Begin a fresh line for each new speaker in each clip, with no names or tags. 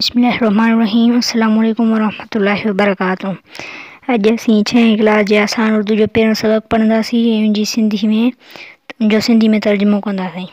بسم الله الرحمٰن الرحيم السلام عليڪم ورحمة الله وبرڪاته اڄ اسين ڇهين ڪلاس جي آسان اردو جو پهريون سبق پڙهنداسين ۽ ان جي سنڌي ۾ ان جو سنڌي ۾ ترجمو ڪنداسين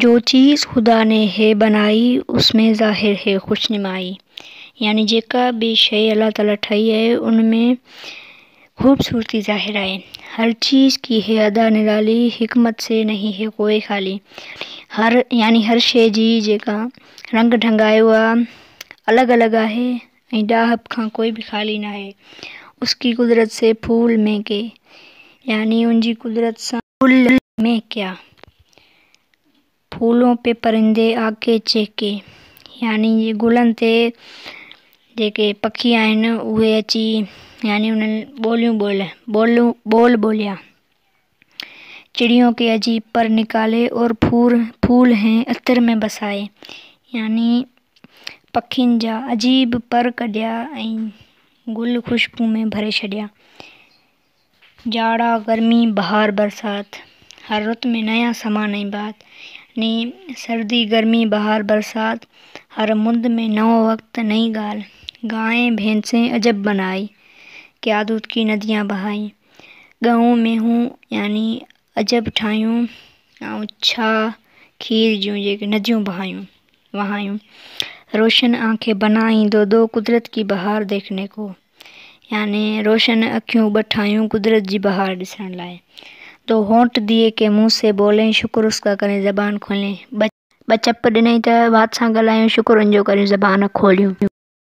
جو چيز خدا ني هي بنائي اس ۾ ظاهر هي خوش نمائي يعني جيڪا به شيء الله تعالي ٺاهي آهي ان ۾ خوبصورتي ظاهر آهي هر چيز ڪي هي ادا نرالي حڪمت سي نهين هي ڪوئي خالي هر يعني هر شيء جي جيڪا رنگ ڍنگ آهي اها الڳ الڳ آهي ۽ ڏاهپ کان ڪوئي به خالي ناهي اس ڪي قدرت سي ڦول ۾ ڪي يعني ان جي قدرت سان گل مين ڪيا ڦولون پي پرندي آڪي چهڪي يعني گلن تي جيڪي پکي آهن اهي اچي يعني انهن ٻوليون ٻوليا ٻول ٻوليا چڙيون ڪي عجيب پر نڪالي اور ڦور ڦول هين عطر ۾ بسائي يعني پکين جا عجيب پر ڪڍيا ۽ گل خوشبو ۾ ڀري ڇڏيا جاڙا، گرمي، بهار، برسات، هر رت ۾ نيا سامان ۽ بات يعني سردي، گرمي، بهار، برسات، هر مند ۾ نئون وقت، نئين ڳالهه، گائين، ڀينسين عجب بنائي، ڪيا دود ڪي نديان بهائي، ڳئون، مينهون يعني عجب ٺاهيون ۽ ڇا کير جون جيڪي نديون بهايون، وهايون، روشن آنکين بنائي، دو دو قدرت ڪي بهار ديکني ڪو. يعني روشن اکيون ٻه ٺاهيون قدرت جي بهار ڏسڻ لاء. دو هونٺ ديئي ڪي منهن سي بولين شڪر اس ڪا ڪرين زبان کولين. ٻه چپ ڏنائين ته وات سان ڳالهايون شڪر ان جو ڪريون زبان کوليون.